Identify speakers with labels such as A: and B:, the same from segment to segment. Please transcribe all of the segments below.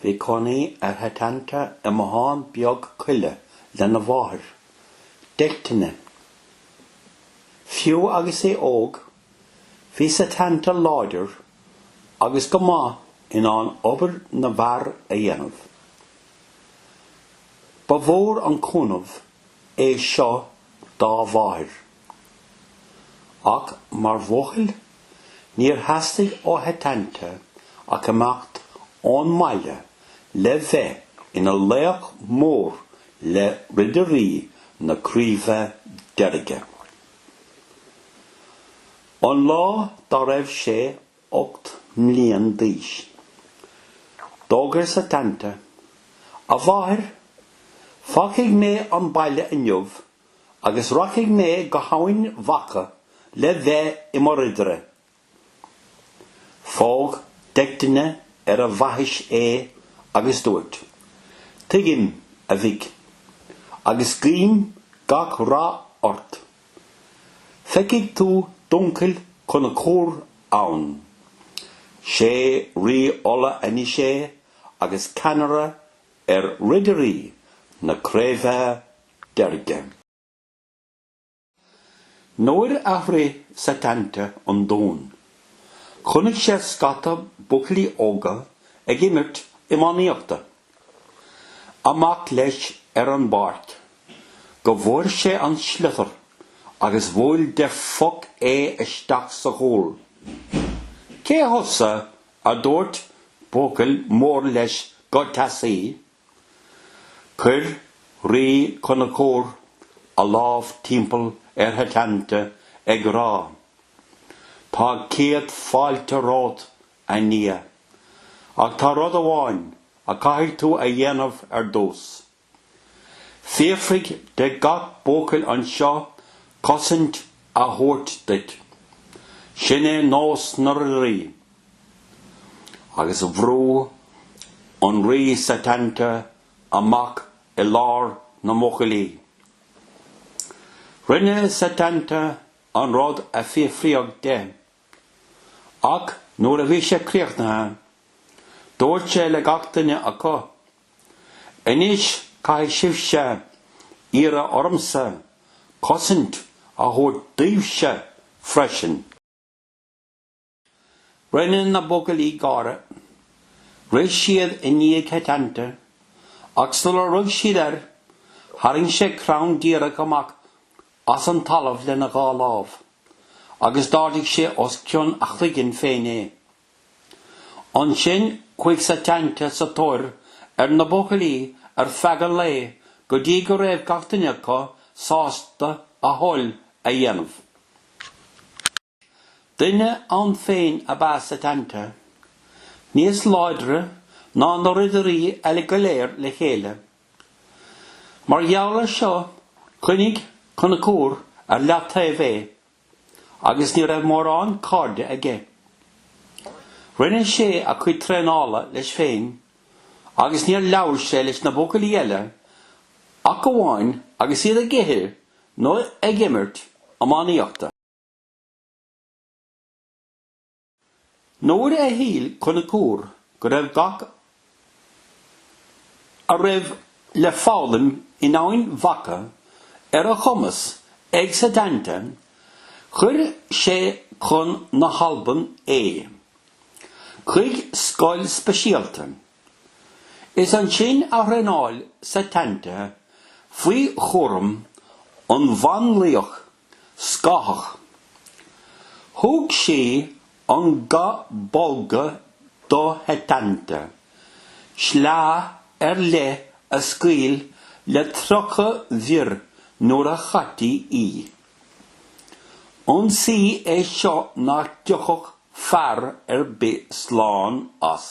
A: Bhí cónaí ar Shetanta i mbothán beag coille lena mháthair, Deichtine. Fiú agus é óg, bhí Setanta láidir agus go maith in ann obair na bhfear a dhéanamh. Ba mhór an cúnamh é seo dá mháthair. Ach mar bhuachaill, níor theastaigh ó Shetanta ach imeacht ón mbaile le bheith ina laoch mór le Ridirí na Craoibhe Deirge. Aon lá dá raibh sé 8 mbliain d'aois. D'fhógair Setanta, A mháthair, fágfaidh mé an baile inniu agus rachaidh mé go hEamhain Mhacha le bheith i mo ridire. Phóg Deichtine ar a bhaithis é agus dúirt, Tuigim, a mhic, agus guím gach rath ort. Feicfidh tú d'uncail Conchúr ann. 'Sé Rí Uladh anois é agus ceannaire ar Ridirí na Craobhe Deirge. Nuair a shroich Setanta an dún, chonaic sé scata buachaillí óga ag imirt iománaíochta. Amach leis ar an bpáirc go bhfuair sé an sliotar agus bhuail de phoc é isteach sa chúl. Cé thusa? a dúirt buachaill mór leis go teasaí. Chuir Rí Conchúr a lámh timpeall ar Shetanta ag rá, Tá céad fáilte romhat a nia. Ach tá rud amháin a caithfidh tú a dhéanamh ar dtús. Fiafraigh de gach buachaill anseo cosaint a thabhairt duit. Sin é nós na ridirí. Agus bhrú an rí Setanta amach i lár na mbuachaillí. Rinne Setanta an rud a fiafraíodh de. Ach nuair a bhí sé críochnaithe, dúirt sé le gach duine acu, 'Anois caithfidh sibhse iarraidh ormsa cosaint a thabhairt daoibhse freisin. Rinne na buachaillí gáire. Rith siad i ndiaidh Setanta ach sular rug siad air, tharraing sé crann díreach amach as an talamh lena dhá lámh. agus d'ardaigh sé os cionn a chloiginn féin é. Ansin chuaigh Setanta sa tóir ar na buachaillí ar feadh an lae go dtí go raibh gach duine acu sásta a thoil a dhéanamh. Duine ann féin ab ea Setanta, níos láidre ná na ridirí eile go léir le chéile. Mar gheall ar seo choinnigh Conchúr ar leataobh é agus ní raibh mórán cairde aige. Rinne sé a chuid traenála leis féin agus níor labhair sé leis na buachaillí eile ach amháin agus iad ag ithe nó ag imirt iománaíochta. Nuair a shíl Conchúr go raibh gach a raibh le foghlaim in Eamhain Mhacha ar a chumas ag Setanta, chuir sé chun na hAlban é, chuig scoil speisialta. Is ansin a thraenáil Setanta faoi chúram an bhanlaoich Scáthach. Thug sí an ga bolga do Shetanta, sleá ar leith a scaoil le tríocha bior nuair a chaití í. Ionsaí é seo nach dtiocfadh fear ar bith slán as.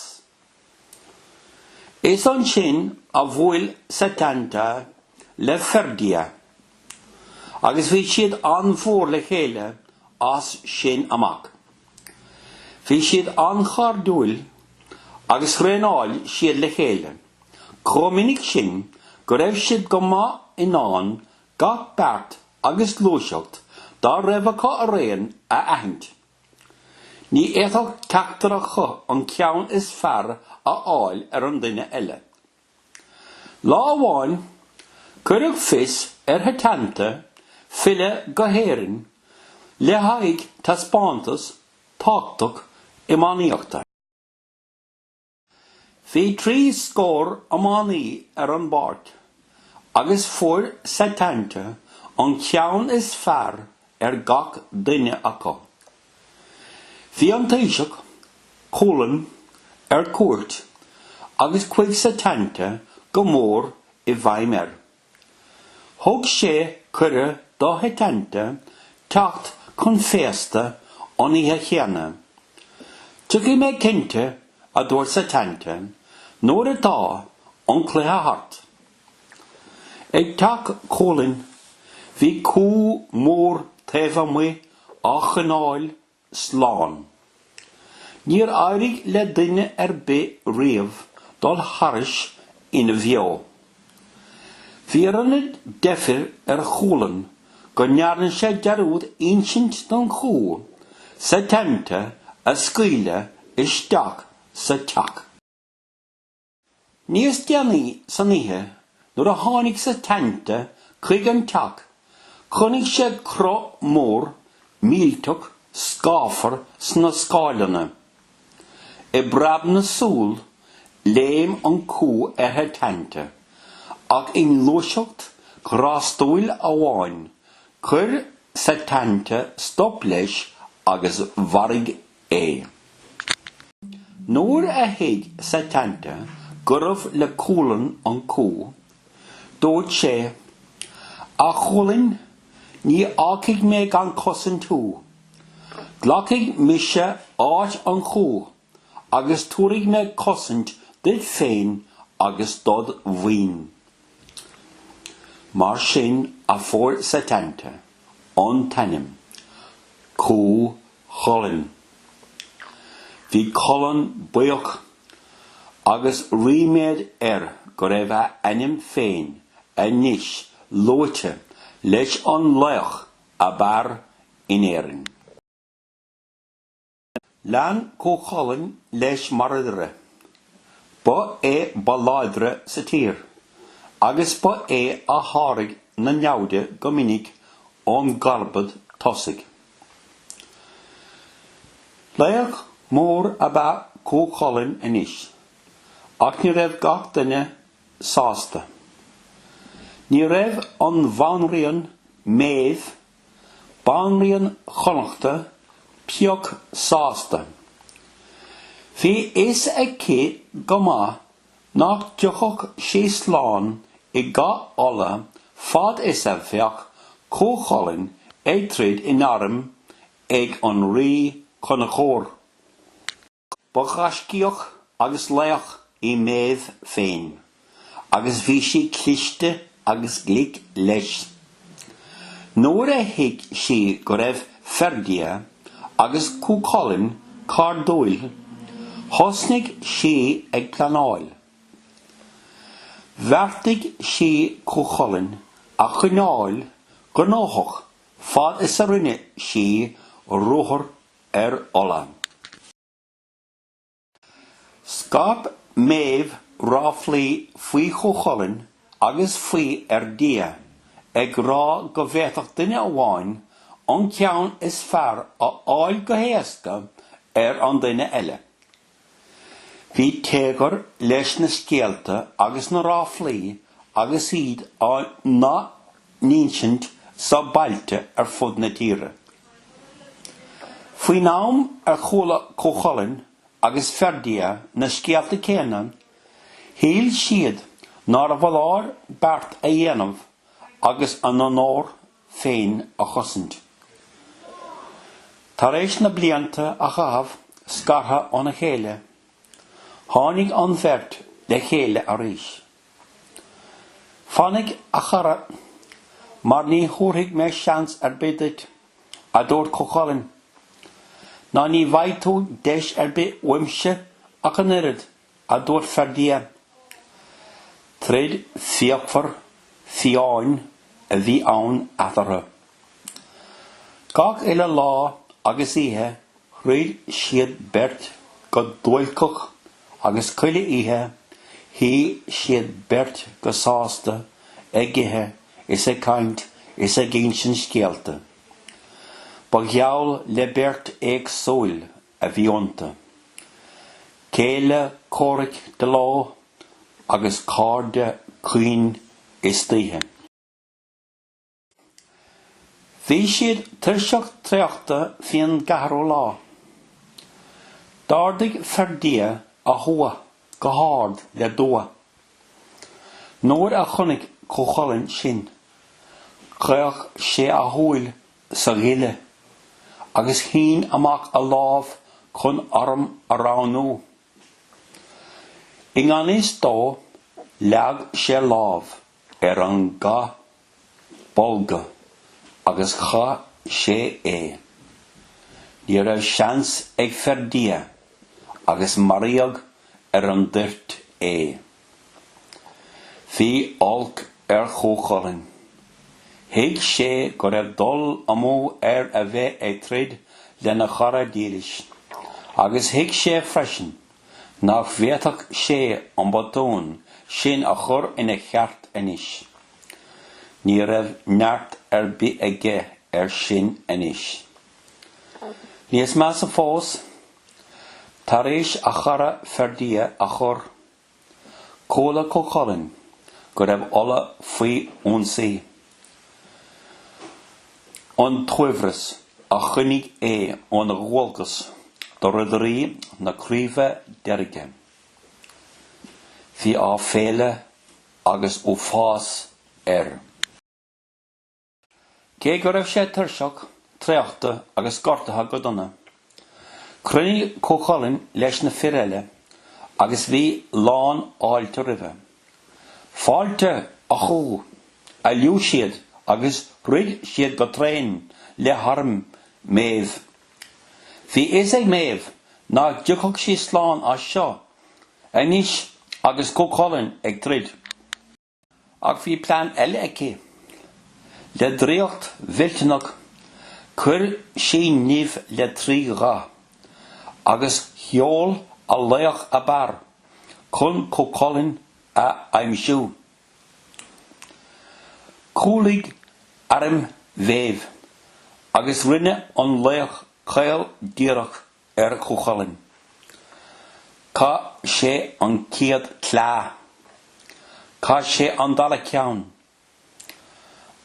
A: Is ansin a bhuail Setanta le Ferdia agus bhí siad an-mhór le chéile as sin amach. Bhí siad an-chairdiúil agus thraenáil siad le chéile chomh minic sin go raibh siad go maith in ann gach beart agus gluaiseacht dá raibh acu araon a aithint. Ní fhéadfadh ceachtar acu an ceann is fearr a fháil ar an duine eile. Lá amháin, cuireadh fios ar Shetanta filleadh go hÉirinn le haghaidh taispeántas tábhachtach iománaíochta. Bhí trí scór iománaí ar an bpáirc agus fuair Setanta an ceann is fearr ar gach duine acu. Bhí an Taoiseach, Culann, ar cuairt agus chuaigh Setanta go mór i bhfeidhm air. Thug sé cuireadh do Shetanta teacht chun féasta an oíche chéanna. Tiocfaidh mé cinnte, a dúirt Setanta, nuair atá an cluiche thart. Ag teach Chulainn bhí cú mór taobh amuigh á choinneáil slán. Níor éirigh le duine ar bith riamh dul thairis ina bheo. Bhí an oiread deifir ar Chulann go ndearna sé dearúd insint don chú Setanta a scaoileadh isteach sa teach. Níos déanaí san oíche nuair a tháinig Setanta chuig an teach chonaic sé cruth mór millteach scáfar sna scáileanna. I bpreab na súl léim an cú ar Shetanta ach i ngluaiseacht ghrástúil amháin chuir Setanta stop leis agus mharaigh é. Nuair a thuig Setanta gurbh le Culann an cú, dúirt sé, A Chulainn, ní fhágfaidh mé gan cosaint thú. Glacfaidh mise áit an chú agus tabharfaidh mé cosaint duit féin agus dod mhaoin. Mar sin a fuair Setanta an t-ainm Cú Chulainn. Bhí Culann buíoch agus ríméad air go raibh a ainm féin anois luaite leis an laoch ab fhearr in Éirinn. Lean Cú Chulainn leis mar ridire. Ba é ba láidre sa tír agus ba é a sháraigh na naimhde go minic ón gcarbad tosaigh. Laoch mór ab ea Cú Chulainn anois, ach ní raibh gach duine sásta. Ní raibh an Bhanríon Méabh, Banríon Chonnacht, pioc sásta. Bhí a fhios aici go maith nach dtiocfadh sé slán i gCath Uladh fad is a bheadh Cú Chulainn ag troid in arm ag an Rí Conchúir. Ba ghaiscíoch agus laoch í Méabh féin agus bhí sí cliste agus glic leis. Nuair a thuig sí go raibh Ferdia agus Cú Chulainn cairdiúil, thosnaigh sí ag pleanáil. Bheartaigh sí Cú Chulainn a choinneáil gnóthach fad is a rinne sí ruathar ar Uladh. Scaip Méabh ráflaí faoi Chú Chulainn agus faoi Fherdia, ag rá go bhféadfadh duine amháin an ceann is fearr a fháil go héasca ar an duine eile. Bhí téagar leis na scéalta agus na ráflaí agus iad á n-athinsint sna bailte ar fud na tíre. Faoin am ar chuala Cú Chulainn agus Ferdia na scéalta céanna, shíl siad nárbh fholáir beart a dhéanamh agus a n-onóir féin a chosaint. Tar éis na blianta a chaitheamh scartha óna chéile, tháinig an bheirt le chéile arís. Fainic, a chara, mar ní thabharfaidh mé seans ar bith duit, a dúirt Cú Chulainn, ná ní bhfaighidh tú deis ar bith uaimse ach an oiread, a dúirt Ferdia. Troid fíochmhar fiáin a bhí ann eatarthu. Gach uile lá agus oíche throid siad beirt go tulcach agus chuile oíche shuigh siad beirt go sásta ag ithe is ag caint is ag insint scéalta. Ba gheall le beirt éagsúil a bhí iontu. Céile comhraic de ló agus cairde caoin istoíche. Bhí siad tuirseach traochta faoin gceathrú lá. D'ardaigh Ferdia a thua go hard le dua. Nuair a chonaic Cú Chulainn sin, chaoch sé a shúil sa ghile agus shín amach a lámh chun arm a roghnú. I ngan fhios dó, leag sé lámh ar an Ga. bolga agus chaith sé é. Ní raibh seans ag Ferdia agus maraíodh ar an dtoirt é. Bhí olc ar Chúchulainn. Thuig sé go raibh dul amú air a bheith ag troid lena chara dílis agus thuig sé freisin nach bhféadfadh sé an botún sin a chur ina cheart anois. Ní raibh neart ar bith aige air sin anois. Níos measa fós, tar éis a chara Ferdia a chur, chuala Cú Chulainn go raibh Uladh faoi ionsaí. An t-aimhreas a choinnigh é óna dhualgas do Ridirí na Craoibhe Deirge. Bhí aiféala agus uafás air. Cé go raibh sé tuirseach, traochta agus gortaithe go dona, chruinnigh Cú Chulainn leis na fir eile agus bhí lán fháilte roimhe. Fáilte Chú a liú siad agus throid siad go tréan le harm Méabh. Bhí a fhios ag Méabh nach dtiocfadh sí slán as seo anois agus Cúchulainn ag troid. Ach bhí plean eile aici. Le draíocht mhillteanach chuir sí nimh le trí gha agus sheol a laoch ab fhearr. chun Cúchulainn a aimsiú. Chúlaigh arm Mhéabh agus rinne an laoch caol díreach ar Chúchulainn. Chaith sé an chéad sleá. Chaith sé an dara ceann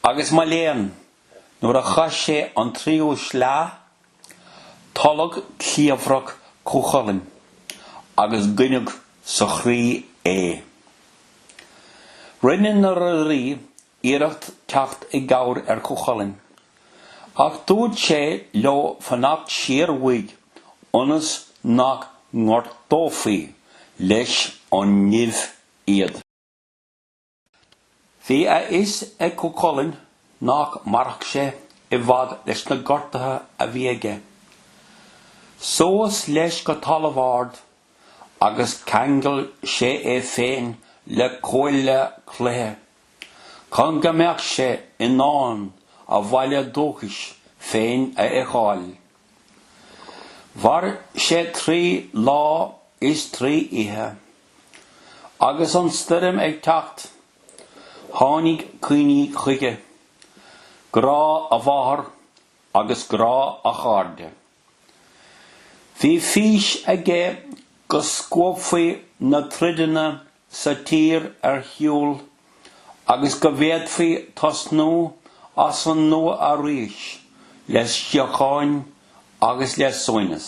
A: Agus mo léan, nuair a chaith sé an tríú sleá, tolladh cliabhrach Cú Chulainn agus goineadh sa chroí é. Rinne na ridirí iarracht teacht i gcabhair ar Chú Chulainn, ach dúirt sé leo fanacht siar uaidh ionas nach ngortófaí leis an nimh iad. Bhí a fhios ag Cú Chulainn nach mairfeadh sé i bhfad leis na gortaithe a bhí aige. Suas leis go talamh ard agus cheangail sé é féin le cuaille cloiche chun go mbeadh sé in ann a bhaile dúchais féin a fheiceáil. Mhair sé trí lá is trí oíche. Agus an stoirm ag teacht, tháinig cuimhní chuige, grá a mháthar agus grá a chairde. Bhí fís aige go scuabfaí na troideanna sa tír ar shiúl. agus go bhféadfaí tosnú as an nua arís le síocháin agus le suaimhneas.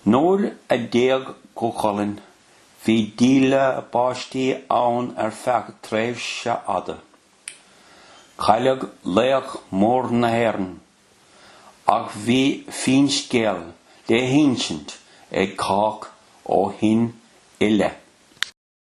A: Nuair a d'éag Cú Chulainn bhí díle báistí ann ar feadh tréimhse fhada. Cailleadh laoch mór na hÉireann, ach bhí finscéal le hinsint ag cách ó shin i leith.